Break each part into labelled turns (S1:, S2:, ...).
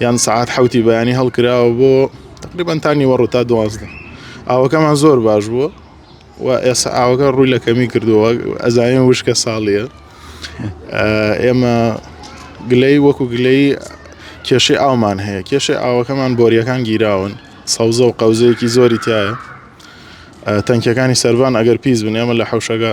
S1: یان سەعات حەوتی بەیانی هەڵکراوە بۆ تقریبان تا نیوەڕوو تا دوازدە ئاوەکەمان زۆر باش بووە و ئێستا ئاوەکە ڕووی لە کەمی کردووە ئەزانین وشکە ساڵیە ئێمە گلەی وەکو گلەی کێشەی ئاومان هەیە کێشەی ئاوەکەمان بۆریەکان گیراون سەوزە و قەوزەیەکی زۆری تایە تەنکەکانی سەربان ئەگەر پیس بن ئێمە لە حوشەکە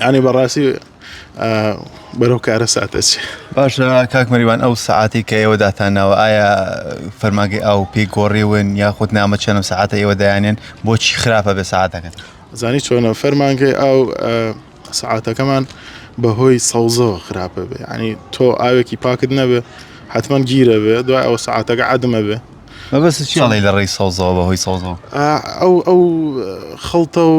S1: یانی بەڕاستی بەرەو کارە ساتەچێ باشە کاک
S2: مەریوان ئەو سعاتی کە ئێوە داتانناوە ئایا فەرماگەی ئاو پێی گۆڕیون یاخود نامە چەنم سعاتە ئێوە دایانێن بۆچی خراپە بە سعاتەکەن زانی چۆنە
S1: فەرمانگەی ئاو سعاتەکەمان بەهۆی سەوزەوە خراپە بێ ینی تۆ ئاوێکی پاکت نەبێ حتمما گیرە بێ دوای ئەو سعاتەکە عادمە بێ مەبەست چیڵی
S2: لە ڕێی سەوزەوە بەهۆی سەوزەوە ئەو ئەو
S1: خەڵتە و